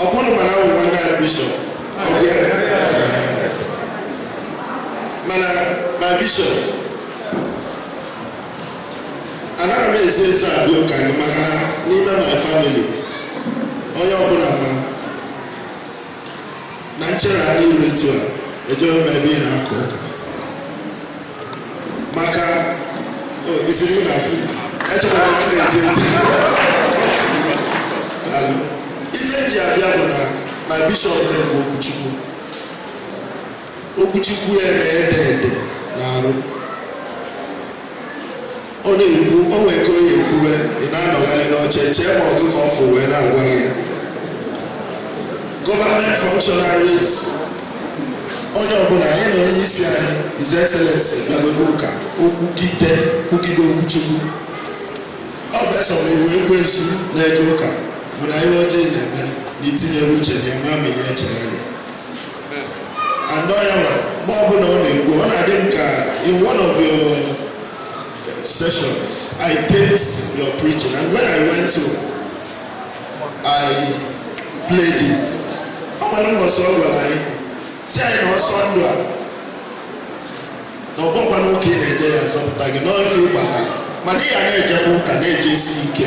Ọ bụrụ mana ahụ nwanne ya bishọp ọ bụ ya mana my bishọp anaghị m ezi ezi abịa ụka anyị maka na n'ime my family onye ọbụla ma na nchere anyị ruru etu a ejewe m ebe ị na-aka ụka maka isiri na afụ echọkwara na ndị ezi ezi ihe m ji abịa bụ na my bishọp na-ekwu okwu Chukwu okwu Chukwu ya na-ede ede n'arụ Ọ na-ekwu, o nwee ka ọ ya-ekwube, ị na-anọgharị n'oche chee ma ọ gụ ka ọ fụ wee na-agwa gị. Government functionaries, onye ọbụla anyị na onye isi anyị His Excellency bịagodo ụka o kwugide kwugide okwu Chukwu ọ bụ eso wee wee ekwensu na-eje ụka bụ na ihe ọjọọ ị na-eme na i tinyere uche na eme ama ihe echegharị and ọ ya nwa mgbe ọbụla ọ na-ekwu ọ na-adị m ka in one of your sessions. I taped your preaching, and when I went to, I played it. Ọmọdé wọ sọ ọ gwa anyị, sị anyị na ọsọ ndụ a. Na ọgbọ kwa n'oke na-eje ya zọpụta gị n'ofe ịgbata, mana ị ya na-ejekwa ụka na-ejesi ike.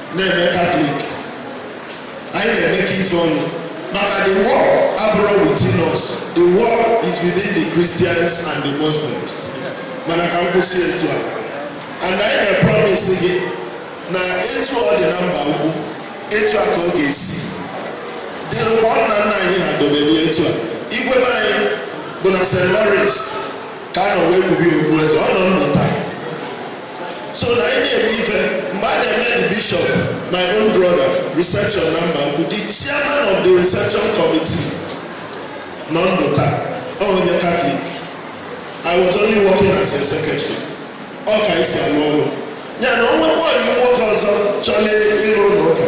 na-eme katọlik anyị na-emekọ ife ọnụ maka the war abụrọ within us the war is within the christians and the muslims mana ka m kwụsị etu a and anyị na-promis gị na etu ọ dị na Mbaukwu etu a ka ọ ga-esi dịrị ka ọ nna nna anyị ha dobere etu a igwe be anyị bụ na st lawrence ka a nọ wee kpube okpu eze ọ nọ ndụ taa so na anyị na-eme ife mgbe a na-eme the bishop my own brother reception na Mbaukwu the chairman of the reception committee nọ ndụ taa ọ onye katọlik i was only working as a secretary ọ ka e si alụ ọlụ ya na o nwekwalụ nwoke ọzọ chọrọ ịrụ ụlọ ụka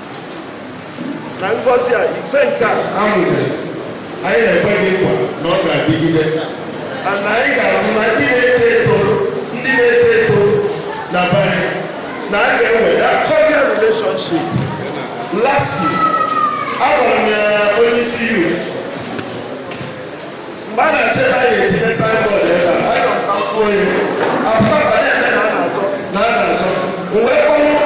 na ngọzi a ife nke a amụnyere anyị na-ekwe gị nkwa na ọ ga-adịgide na anyị ga-azụ ma ndị na-eto eto ndị na-eto eto na be anyị na a ga-enwe that cordial relationship lastly agwara m ya onye isi youth mgbe a na-achọ ebe a ya-etinye signboard ebe a anyị nọ na mkpụrụ onye apụta ka na-eme na a na-azọ na a na-azọ o wee kpọrọ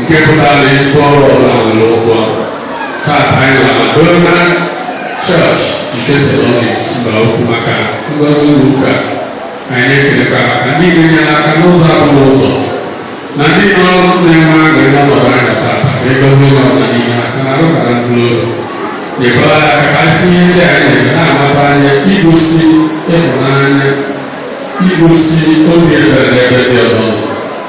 nke pụtara na ezigbo ọrụ ọbụla nwere ụgwọ tata anyị nọ na Madonna Church nke St. Dominic's Mbaukwu maka ngozi ụlọ ụka anyị na-ekelekwa maka ndị na-enye aka n'ụzọ abụghị ụzọ na ndị nọ na-enwe aṅụrị n'ọnọdụ anyị nọ tata ka ịgọzi ụlọ ọbụla n'ime ha ka na arụkara mkpụrụ obi nyekwara ya aka ka anyị si n'ihe ndị anyị na-eme na-amata anya igosi ịhụnanya igosi obi ebere n'ebe ndị ọzọ nọ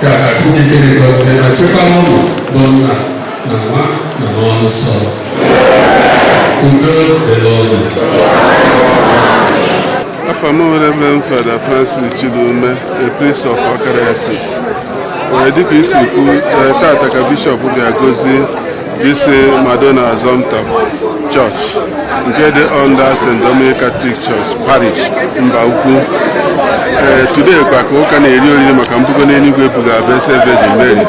Ka Chineke gọzie ma chekwaba unu bụ nna na nwa na mmụọ nsọ. Udo dịrị unu. Afa m bụ Reverend Father Francis Chidume, a priest of Awka Diocese. Ee, dịka i si kwu, ee, tata ka bishọp ga-agọzi This Madonna Assumpta Church nke dị under St. Dominic Catholic Church Parish Mbaukwu eh, today kwa ka ụka na-eri oriri maka mbugo n'eluigwe e buga Blessed Virgin Mary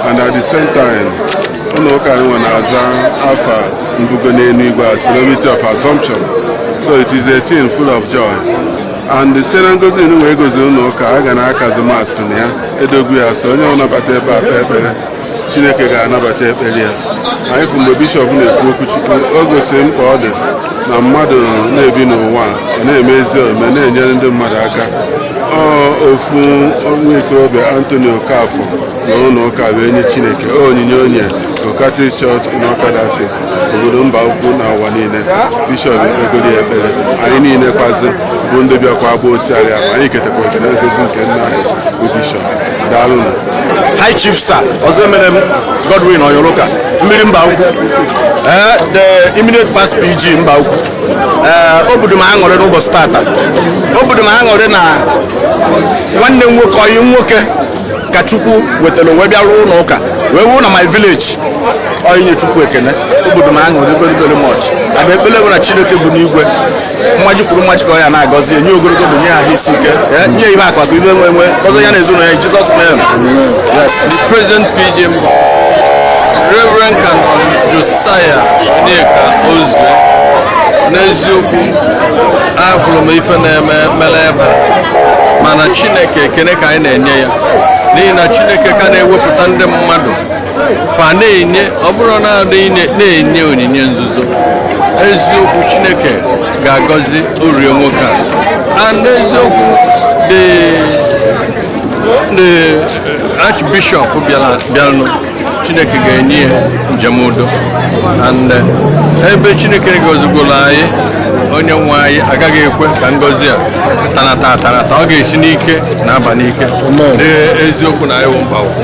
and at the same time ụlọ ụka nwa na-aza afa mbugo n'eluigwe a solemnity of assumption so it is a thing full of joy and site na ngozi nwa a gọziri ụlọ ụka a ga na-akazi Mass na ya e dogo ya asọ onye ọbụna bata ebe a kpee ekpere chineke ga-anabata ekpere ya anyị fụ mgbe bishọp na-ekwu okwu chukwu o gosiri mkpa ọ dị na mmadụ na-ebi n'ụwa ọ na-eme ezi omume na-enyere ndị mmadụ aka ọ ofu nwa ikorobịa Anthony Okafor na ụlọ ụka wee nye chineke ọ onyinye o nyere Catholic Church in Awka Diocese obodo Mbaukwu na ụwa niile bishọp ekpegoro ya ekpere anyị niile kwazi bụ ndị bịakwa agba osiari ahụ anyị ketakwa oke na ngozi nke nna anyị bụ bishọp daalụnụ High Chief Sir Ozemerem Godwin Oyoroka mmiri Mbaukwu eh, the immediate past PG Mbaukwu eh, ọ bụụrụ m aṅụrị n'ụbọchị tata ọ bụụrụ m aṅụrị na nwanne m nwoke ọyị nwoke ka Chukwu wetara o wee bịa rụọ ụlọ ụka wee wuo na my village ọ inye Chukwu ekene ọ bụụrụ m aṅụrị very very much and ekpele m bụ na Chineke bi n'igwe mmaji kwuru mmaji ka ọ ya na-agọzi nye ogologo ndụ nye ahụ isi ike eh, nye ihe akụ akụ ihe enwe enwe gọzie ya na ezinụlọ ya Jizọs name the present PG m bụ Reverend Canon Josiah Onyeka Ozue n'eziokwu ahụrụ m ife na-eme mere ebe mana Chineke ekene ka anyị na-enye ya n'ihi na Chineke ka na-ewepụta ndị mmadụ fa na-enye ọ bụrụ na na-enye onyinye nzuzo eziokwu chineke ga-agọzirịrị nwoke a and eziokwu the the archbishop bịanụ chineke ga-enye ya njem udo and eh, ebe chineke gozigoro anyị onye nwe anyị agaghị ekwe ka ngozi a tanata atanata ọ ga-esi n'ike na-aba n'ike eziokwu na anyị wụ Mbaukwu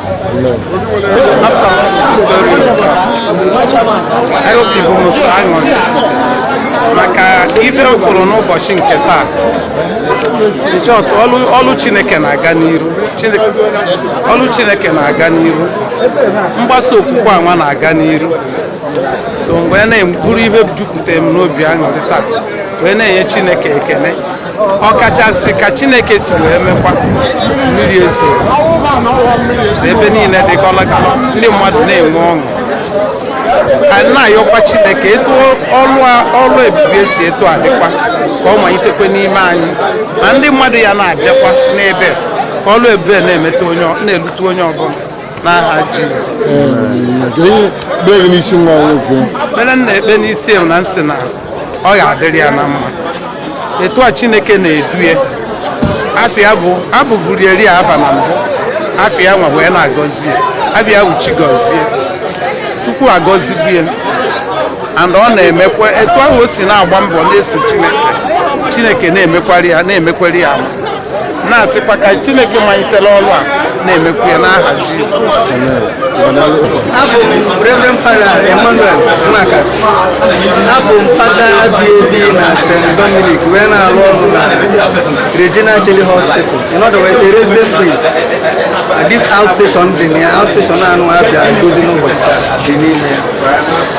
maka ife m fụrụ n'ụbọchị nke taa ọlụ chineke na-aga n'iru ọlụ chineke na-aga n'iru mgbasa okwukwe anwa na-aga n'iru so wee na-abụrụ ihe jupụtara m n'obi aṅụrị taa wee na-enye chineke ekele ọkachasị ka chineke si wee mekwa mmiri ezo ebe niile dịkọla ka ndị mmadụ na-enwe ọṅụ ka na-ayọkwa chineke etu ọrụ ebube si etu a dịkwa ka ọ malitekwe n'ime anyị na ndị mmadụ ya na-abịakwa n'ebe a ka ọlụ ebube na-elute onye ọbụla n'aha Jizọs ekpere m na-ekpe n'isi ya na m sị na ọ ga-adịrị ya na mma etu a chineke na-edue afa ya bụ abụvurieri afa na mbụ afa ya nwa wee na-agọzi ya afa ya bụ Chigọzie Chukwu agọzibu ya and ọ na-emekwa etu ahụ o si na-agba mbọ na-eso chineke chineke na-emekwari ya mma na-asịkwa ka Chineke malitere ọrụ a na-emekwu ya n'aha Jizọs abụ m Reverend Father Emmanuel Nwaka abụ m fada bi ebi na St. Dominic wee na-arụ ọrụ na Regina Caeli Hospital in other words a resident priest this outstation dị na ya outstation anụ a bịa gọzi n'ụbọchị taa dị n'ime ya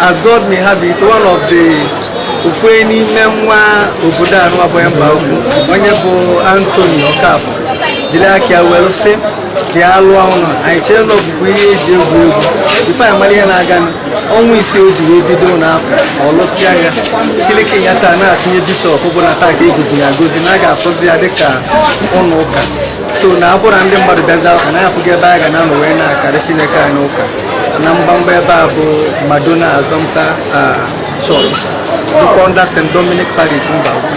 As God may have it, one of the ofu n'ime nwa obodo anụa bụ Mbaukwu onye bụ Anthony Okafor jiri aka ya were sị ka ya lụọ ụlọ anyị chere na ọ bụ ihe e ji egwu egwu before anyị mara ihe na-aga ọnwa ise o ji wee bido ụlọ afụ ọ lụsịa ya chịlị key ya taa na-achịnye bishọp bụ na taa ka a gọzi ya agọzi na a ga-afụzi ya dịka ụlọ ụka so na ọ bụrụ ndị mmadụ bịaza ụka na ya afụghị ebe a ga na-anọ wee na-akarị Chineke anyị ụka na mgbamgba ebe a bụ Madonna Assumpta Church dịkwa under St. Dominic Parish Mbaukwu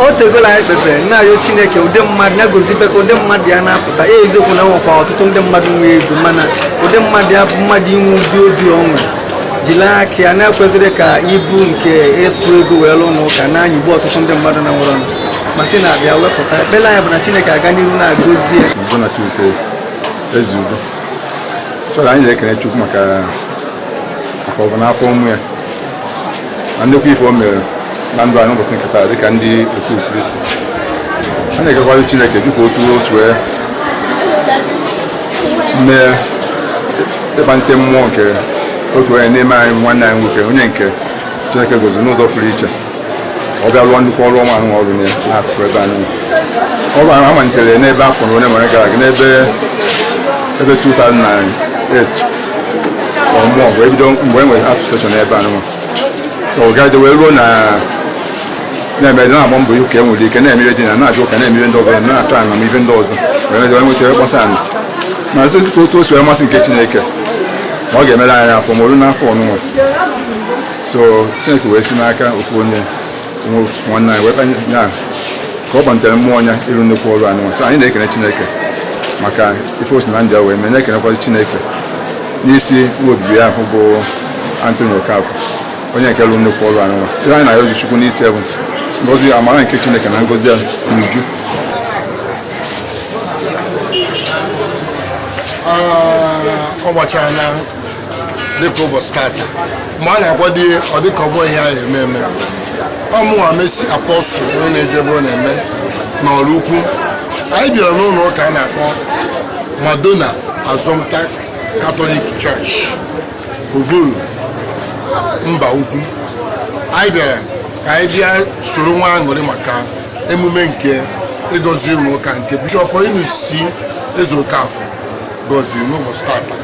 o tegola anyị kpebere na-arịọ chineke ụdị mmadụ na-egozibe ka ụdị mmadụ ya na-apụta ya eziokwu na e nwekwa ọtụtụ ndị mmadụ nwee ego mana ụdị mmadụ ya bụ mmadụ inwe ụdị obi o nwee jiri aka ya na ekwezirọ ka ibu nke ịtụ ego wee lụọ ụnọ ụka na-anyịgbu ọtụtụ ndị mmadụ na-enwerọ ma sị na a bịa wepụta ekpere anyị bụ na Chineke aga n'ihu na-agọzi ya Ezigbo na Chukwu sị ezi udo chọrọ anyị na-ekene Chukwu maka maka ọgọ na afọ ọma ya na nnukwu ife o mere na ndụ anyị n'ụbọchị nke taa dịka ndị otu Kristi a na-ekekwara Chineke dịka otu otu wee mee ịkpalite mmụọ nke otu onye n'ime anyị nwanne anyị nwoke onye nke Chineke gọzi n'ụzọ pụrụ iche ọ bịa rụọ nnukwu ọrụ ọma ahụ ọrụ n'akụkụ ebe anyị ọrụ ahụ amalitere n'ebe afọ na onye mere gara aga n'ebe ebe 2008 ọ bụ mgbe e bido mgbe e nwere outstation ebe a nwa so ọ gaje wee ruo na na-eme na-agba mbọ ka e nwee ike na-eme ihe dị na na-abịa ụka na-eme ihe ndị ọzọ na-achọ ana na ihe ndị ọzọ wee mejewe nweta ebe gbasa ana ma otu o si wee masị nke Chineke ma ọ ga-emere anyị afọ ọma o ru n'afọ ọnụnwa so Chineke wee si n'aka ofu onye nwanne anyị weta ya ka ọ kpalitere mmụọ ya ịrụ nnukwu ọrụ anụnwa so anyị na-ekene Chineke maka ife o si na nya wee mee na-ekenekwazi Chineke n'isi nwa odibo ya bụ Anthony Okafor onye nke lụrụ nnukwu ọrụ anụnwa ihe anyị na-arịọzi Chukwu n'isi bụ ngozi amara nke Chineke na ngozi ya n'uju ah, ọ gbachara dịka ụbọchị tata mgbe a na-akwado ihe ọ dịka ọ bụ ihe anyị eme eme ọ mụnwa Mercy Apostle onye na-eje ebe ọ na-eme n'ọrụ ukwu anyị bịara n'ụlọ ụka a na-akpọ Madonna Assumpta Catholic Church Ovollo Mbaukwu anyị bịara ka anyị bịa soro nwee aṅụrị maka emume nke igozi ụlọ ụka nke bishọp Paulinus C. Ezeokafor goziri n'ụbọchị tata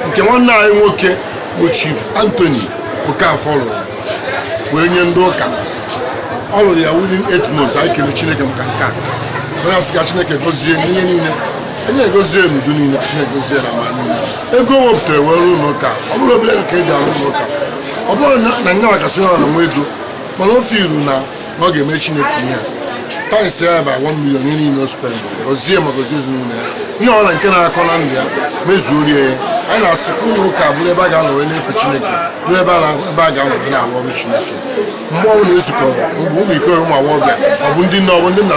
nke nwanne anyị nwoke bụ Chief Anthony Okafor lụrụ wee nye ndị ụka ọ lụrụ ya within eight months anyị kele Chineke maka nke a anyị asị ka Chineke gozie n'ihe niile onye egozie n'udu niile Chineke gozie na ma niile ego o wepụtara wee rụọ ụlọ ụka ọ bụrọ obere ka e ji arụ ụlọ ụka ọ bụrọ na nyanwa kasị ha n'inwe ego mana o feelụ na na ọ ga-eme Chineke ihe a times ya bụ one million ihe niile o spend gozie ma gozie ezinụlọ ya ihe ọbụla nke na-akọ na ndụ ya mezuoro ya anyị na-asị ka ụlọ ụka bụrụ ebe a ga-anọ wee na-efe Chineke bụrụ ebe a ga-anọ wee na-arụ ọrụ Chineke mgbe ọ bụla e zukọrọ mgbe ụmụ ikoro ụmụ agbọghọbịa ọ bụ ndị nne ọ bụ ndị nna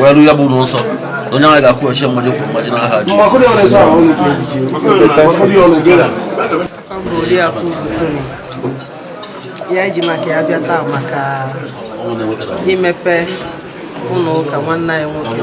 wee rụ ya bụ ụlọ nsọ onye ahụ ga-akwụghachi mmaji kwuru mmaji n'aha ya e ji maka ya bịa taa maka imepe ụlọ ụka nwanne anyị nwoke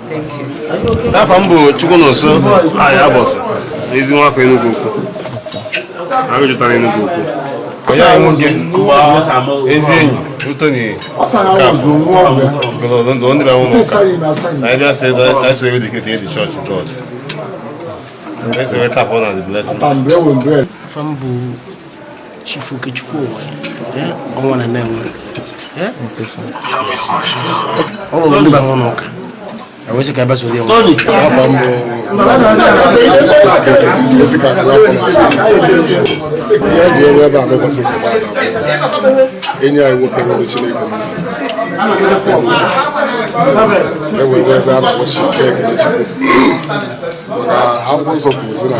afa m bụ Chukwunonso Anyaebosi na ezi nwa afọ Enugu ukwu agụ jụtara Enugu ukwu enyi anyị nwoke ezi enyi Tony Okafor ndụ ndị bịanwụ n'ụka anyị bịa sị anyị so wee dedicate the church to God anyị so wee tap na the blessing afa m bụ Chief Okechukwu onwe eh, ọnwa na na-enwe eh? ọ rụrụ ndị be ya ụnọ ụka ewesị ka ebesa ụdị enwe enyi anyị nwoke rụrụ Chineke ewere ebe a na-akpọ Chineke ekele Chukwu maka akwụkwọ nsọ kwuru sị na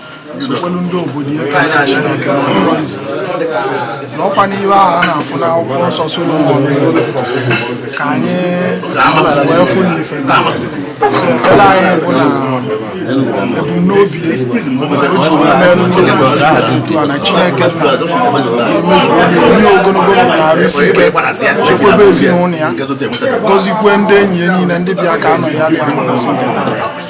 sokwelu ndị obodo ya karịa Chineke na ọkpụkpọ izu na ọkwa n'ihe ahụ a na-afụ n'akwụkwọ nsọ Solomon ka anyị wee fụ n'ife taa so ekpere anyị bụ na ebumnobi o ji wee merụ ndị obodo otu a na Chineke nna ga-emezu nye ya ogologo ndụ na arụ isi ike chekwebe ezinụlọ ya gọzikwe ndị enyi ya niile ndị bịa ka a nọnyere ya n'ụbọchị nke taa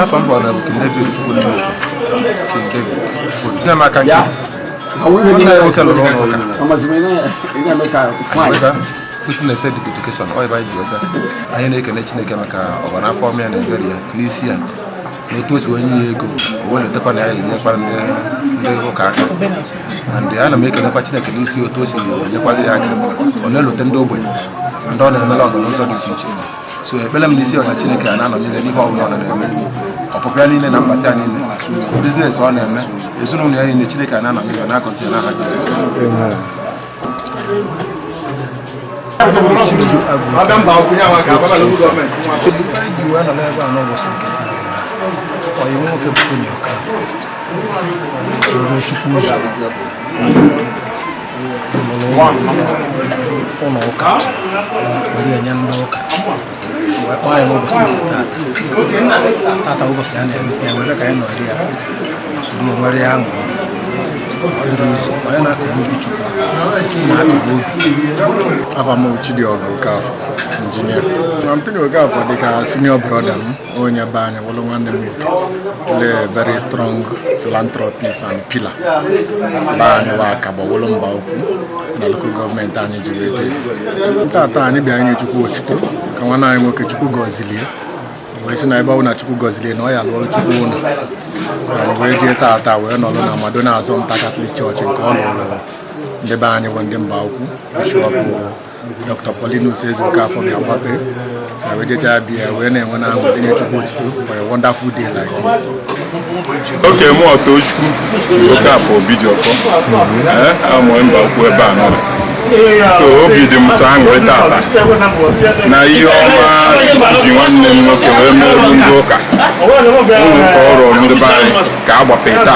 afa m kpọrọ bụ David Chukwuneme King David nne maka nke nwanne ya nwoke lụrụ ụlọ ụka Emeka witness the dedication ọ ebe anyị ji ọga anyị na-ekele Chineke maka ụbara afọ ọma ya na ebere ya n'isi ya na otu otu o nye ya ego o wee lotakwa na ya enyekwara ndị ndị ụka aka and ana m ekelekwa Chineke n'isi otu o si enyekwara ya aka ọ na-elote ndị ogbenye ndị ọ na-emela ọgụ n'ụzọ dị iche iche so ekpere m n'isi Ọnwa Chineke a na-anọnyere ya n'ihe ọbụla ọ na-eme ọpụpụ ya niile na mbata ya niile biznes ọ na-eme ezinụlọ ya niile Chineke a na-anọnyere ya na-agọzi ya n'aha Jizọs. ọyị nwoke bụ Tony Okafor Chukwu ụzọ ụlọ ụka were enye ndị ụka wee kpọọ ya n'ụbọchị nke tata tata ụbọchị a na-emepe ya were ka anyị nọrị ya soro ya nwere ya aṅụ ọ dịrị izu onye na-akụrụ obi Chukwu Chukwu na-akụrụ obi afa m Chidiọgụ Okafọ injinia na mpini Okafọ dịka senior brother m onye be anyị wụrụ nwanne m nwoke very strong philanthropist and pillar be anyị wa Awka gbawụrụ Mbaukwu na local gọọmenti anyị ji wee bịa tata anyị bịa inye Chukwu otito ka nwanne anyị nwoke Chukwu gọzili e wee sị na ebe ọ na Chukwu gọzili e na ọ ya-alụrụ Chukwu ụlọ so anyị wee jee tata wee nọrọ na Madonna Assumpta Catholic Church nke ọ lụrụ ndị be anyị bụ ndị Mbaukwu bishọp Dr. Paulinus Ezeokafọ bịa gbapee so wee jechaa bịa wee na-enwe na ahụ nye Chukwu otuto for a wonderful day like this. okay mụ Tochukwu oke afọ obi dị ọfọ amụọ Mbaukwu ebe a nọ so obi dị m sọ aṅụrị tata na ihe ọma ji nwanne m nwoke wee meerụ ndị ụka ụlọ ụka ọ rụrụ ndị be anyị ka a gbapee tata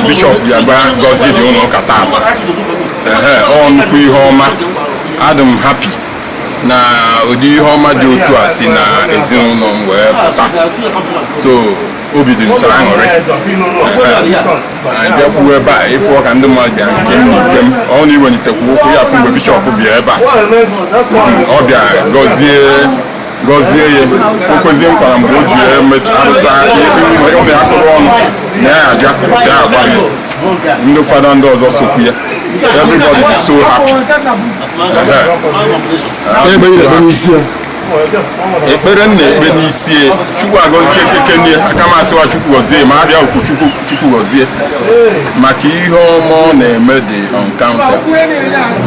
bishọp bịa gba gọzie ụlọ ụka tata ọ nnukwu ihe ọma adị m happy na ụdị ihe ọma dị otu a si na ezinụlọ m wee pụta so obi dị m sọ aṅụrị anyị bịakwuo ebe a ị fụ ka ndị mmadụ bịa nke m na ike m ọ na iwelitekwu ụkwụ ya afụ mgbe bishọp bịa ebe a ọ bịa gọzie gọzie ya o kwezie nkwa na mgbe o ji arụta ụmụ ya tụrụ ọnụ na ya aja ya agba ya ndị fada ndị ọzọ sokwu ya everybody is so happy ebe ị na-ekpe n'isi ya ekpere m na-ekpe n'isi ya chukwu agọzie kekekenie aka m asịwa chukwu gọzie ma abịa okwu chukwu chukwu gọzie maka ihe ọma ọ na-eme dị uncountable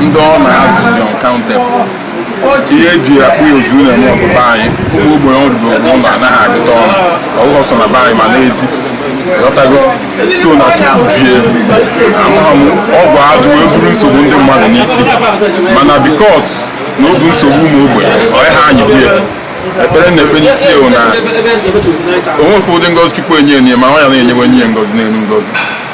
ndị ọ na-azụ dị uncountable ihe e ji akpọ ya ozu na-eme ọbụba anyị ụmụ ogbenye ọ rụgo ụlọ anaghị agụta ọnụ ọgụgụ so na be anyị ma n'ezi ghọtago so na chukwu ji ya amaghị m ọgwụ ajụ wee buru nsogbu ndị mmadụ n'isi mana because na o bu nsogbu ụmụ ogbenye ọ ya ha anyị bie ekpere m na-ekpe n'isi ya bụ na o nwekwa ụdị ngozi chukwu enye enye ma ọ ya na-enyewanye ngozi n'elu ngozi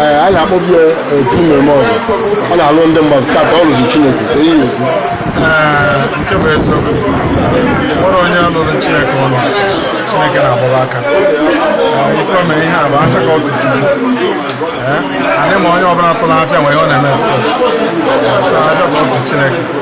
Ee, a na-akpọbi ya otu mmemme ọgụ ọ na-alụ ndị mmadụ tata ọ lụzi chineke ka ihe ekwu Ee, nke bụ eziokwu nwere onye lụrụ chineke ọlụ chineke na-agbaba aka Ee, ife o mere ihe a bụ afịa ka ọ tụrụ chukwu Ee, anyị ma onye ọbụla tụrụ afịa nwere ihe ọ na-eme expect so afịa ka ọ tụrụ chineke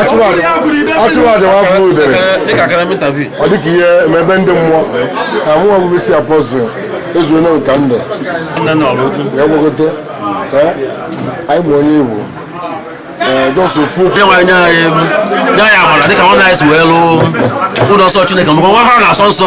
achụmaja nwafọ udere ọ dịka ihe emebe ndị mmụọ amụọ bụ isi apọzụ ezuo na ụka ndụ ya gwagote anyị bụ onye igbo jọsụ fu nye anyị amara dịka nwanne anyị si wee lụọ ụlọ nsọ chineke maka nwa ha na-asọ nsọ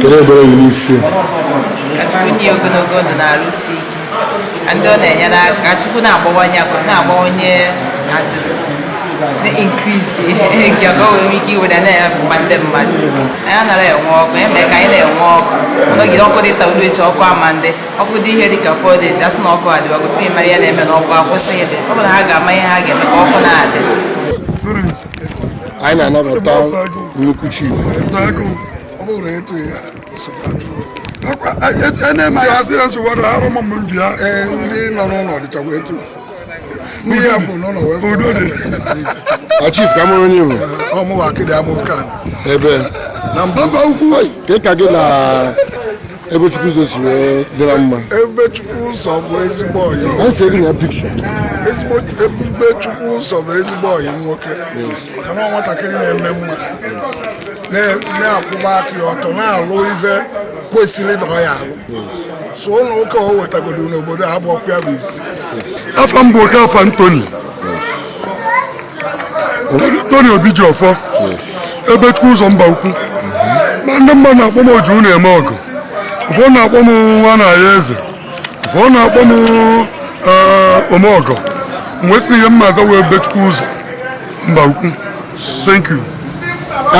kedu ekpere gị n'isi ka chukwu nye ogologo ndụ na arụ isi ike ka ndị ọ na-enyere aka ka chukwu na-abawanye akụ na-abawanye azịrị na-increase nke ọgọ nwere ike iwere na-akpa ndị mmadụ anyị anara enwe ọkụ ya mere ka anyị na-enwe ọkụ ọ nọgide ọkụ dị taa lue echi ọkụ ama adị ọkụ dị ihe dị ka four days asị na ọkụ adịwago tupu ị mara ya na-eme na ọkụ akwụsị ịdị ọ bụrụ na ha ga-ama ihe ha ga-eme ka ọkụ na-adị anyị na-anabata nnukwu chief chief ka mụrụ onye Igbo ebe ka gị na Ebubechukwuzọ si wee dịra mma Ebubechukwuzọ bụ ezigbo ọyị a sị ego na picture ezigbo Ebubechukwuzọ bụ ezigbo ọyị nwoke maka na ọ nwatakịrị na-eme mma na- na-akwụba aka ya ọtọ na-alụ ife kwesịrị na ọ ya-alụ so ụlọ ụka o wetagodo n'obodo a bụ ọkụ ya bụ isi afa m bụ Okafọ Anthony Tony Obijiọfọ Ebubechukwuzọ Mbaukwu ma ndị mmadụ na-akpọ m oji na-eme ọgọ ụfọdụ na-akpọ m nwa na ya eze ụfọdụ na-akpọ m eh, omeọgọ m wee sị na ihe m na-aza wụ Ebubechukwuzọ Mbaukwu thank you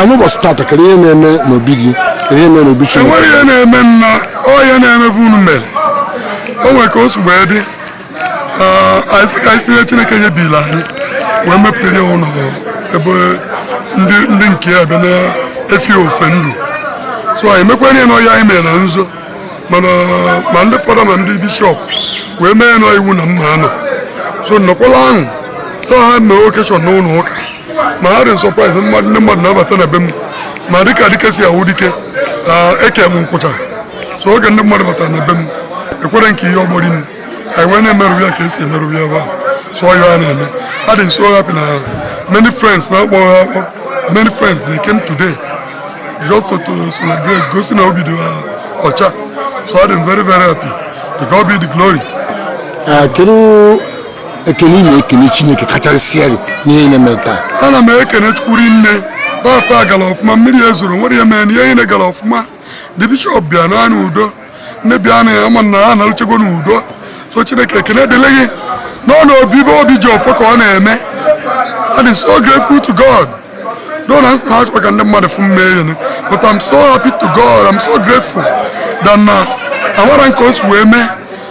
n'ụbọchị tata kedu ihe na-eme n'obi gị kedu ihe na-eme n'obi Chineke enwere ihe na-eme na ọ ihe na-emevu unu mere o nwere ka o si wee dị anyị sị ka anyị si n'ihe Chineke nyebili anyị wee mepụtara ya ụlọ ebe ndị nke ya bịa na-efe ofe ndụ so anyị mekwara ya na ọ ihe anyị mere na nzo mana ma ndị fada ma ndị bishop wee mee nọ iwu na mma anọ so nnọkwala ahụ sọ ha mee occasion n'ụlọ ụka ma ha dị surprise ndị mmadụ na-abata na be m ma dịka dike si awụ dike eke m nkwụcha so oge ndị mmadụ batara na be m ekwere nke ihe ọgbọri m anyị wee na-emerụ ya ka esi emerụ ya ebe a so ọ ihe a na-eme adị m so happy na many friends na akpọ akpọ many friends they came today just to, to celebrate gosi na obi dị ha ọcha so adị m very very happy to God be the glory kedu ekele ị na-ekele chineke kachasịrị n'ihe ị na-eme taa ana m ekene chukwu ihe niile tata gara ọfụma mmiri ezorọ o nwerọ ihe mere na ihe niile gara ọfụma ndị bishop bịa naa n'udo ndị bịanụ ama m na ha nalụchago n'udo so chineke ekene dịrị gị n'ụnọ obibi Obijiọfọ ka ọ na-eme I am so grateful to God though na achọrọ m ka ndị mmadụ fụ m emee ya but I'm so happy to God I'm so grateful that na amarọ m ka o si wee mee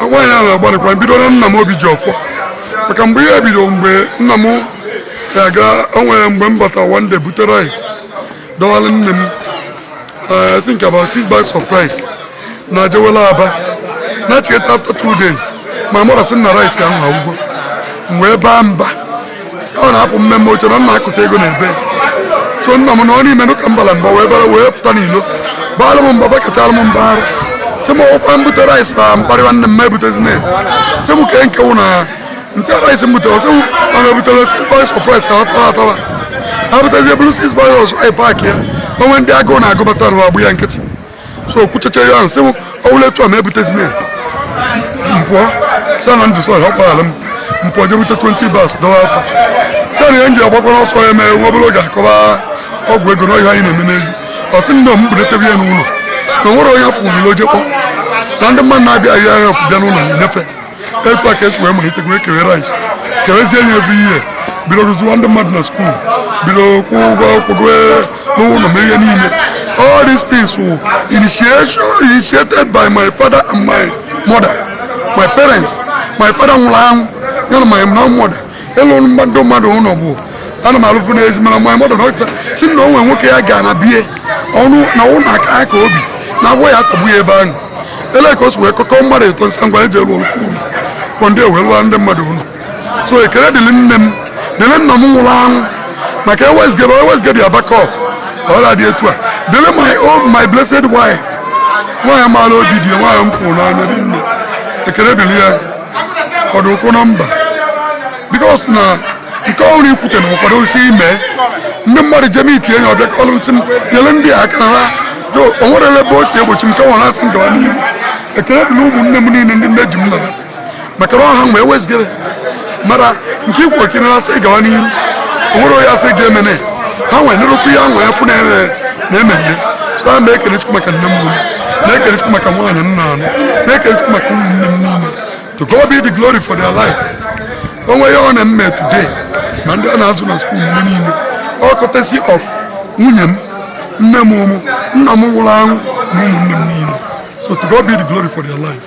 agwa ya na-agbalịkwa bido na nna m Obijiọfọ maka mgbe ihe bido mgbe nna m na-aga onwere mgbe m bata one day bute rice dọwara nne m eh, I think about six bags of rice na jewela Aba nachigata after two days mama m asị na rice ahụ agwụgo mgbe ebe a mba sika ọ na-apụ mmemme oche na nna akụta ego na ebe so nna m na ọ n'ime nụ ka mbala mba wee bara wee pụta n'ilo baala m mba bakachara m mba ahụ sị m ọkwa m bute rice na m kparịwa nne m ebutezina sị m kee nke wụ na nsị rice m butere sị m na m ebutere six bags of rice ka ọ tawa atawa ha butezie buru six bags of rice park ya o nwee ndị agụụ na-agụ bata na ọ gba ya nkịtị so o kwuchechara ihe ahụ sị m ọwụla etu a ma ebutezina ya m pụọ sị na ndụ sọrọ ọkwarala m m pụọ je bute 20 bags dọwa afọ sị na ihe m ji agbakwara ọsọ ya mee nwa obere oge a kọba ọgwụ ego na ọ ihe anyị na-eme n'ezi ọ sị m na m bulatebe ya n'ụlọ na o nwere onye ọ fụ n'ilo o je kpọ na ndị mmadụ na-abịa ahịa ahịa bịa n'ụlọ nye fe etu a ka e si wee malite wee kewe rice kewezie ya every year bido zụziwa ndị mmadụ na skuul bido kwụ ụgwọ akwụkwọ n'ụlọ mee ihe niile all these things were initiation initiated by my father and my mother my parents my father nwụrụ anwụ ya na my mother ịlụ mmadụ mmadụ ụlọ bụ ana m alụfụ na ezi mana my mother dọkịta sị na o nwe nwoke ya ga na be ya ọnụ na ụlọ aja ka o bi na agwọ ya atagbu ya ebe ahụ ele ka o si wee kpọkọọ mmadụ eto nsa ngwa e je lụọlụ fa ụlọ kwọ ndị ewee lụọ ndị mmadụ ụlọ so ekele dịrị nne m dịrị nna m nwụrụ anwụ maka e wezugara e wezugara ya backup ọ ya adị etu a dịrị my own my blessed wife nwaanyị maara obi di nwaanyị m fụrụ n'anya dị nne ekele dịrị ya kwado ụkwụ na mba because na nke ọhụrụ ikwute na ọ kwado isi ime ndị mmadụ jem iti enyi ọ bịa kọlụ m sị m nyere ndị aka ha jo o nwere ebe o si egbochi m ka ọ na-asị m gawa n'ihu ekele dịrị ụmụnne m niile ndị nne ji m na ha maka na ọ ha mgbe e wezugara mara nke ikwu okay na-asị gawa n'ihu o nwere onye asị ga-emene ha nwere nrụkwu ya nwere fụ na-eme na-ememme so a na m ekele Chukwu maka nne m na-ekele Chukwu maka nwaanyị m na-anụ na-ekele Chukwu maka ụmụnne m niile to God be the glory for their life o nwe ihe m na-eme today ma ndị a na-azụ na skuul mgbe niile ọ courtesy of nwunye m nne m mmụọ nna m nwụrụ anwụ na ụmụnne m niile so to God be the glory for their life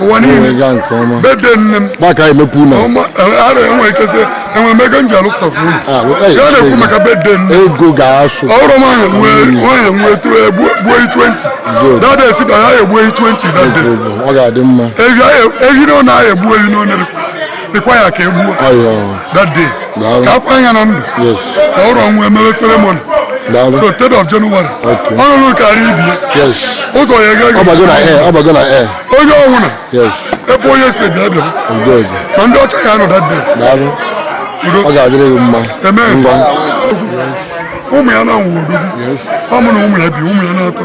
ụwa niile gaa nke ọma birthday nne m maka emepe ụlọ ara enwe ike sị enwe m ego m ji alụfụta fa ụlọ ah, ya na-ekwu maka birthday nne ego ga-asụ ọrụ m ahụ nwanyị nwe gbuo 20 that day esi ba ya egbuo 20 that day ọ ga-adị mma ehi one a ya-egbu ehi one dịkwa ya ka e gbuo that day ka a kwaa ya na ndụ ka ọ wụrọ ọ nwaa e mewe ceremony so third of January ọnụnụ karịa ibie ụzọ ya ga onye ọwụla ebe onye si bịa bịa ma ndị ọcha ya nọ that day ọ ga-adịrị gị mma ụmụ ya na-awụ odogwu ọ mụ na ụmụ ya bi ụmụ ya na-atọ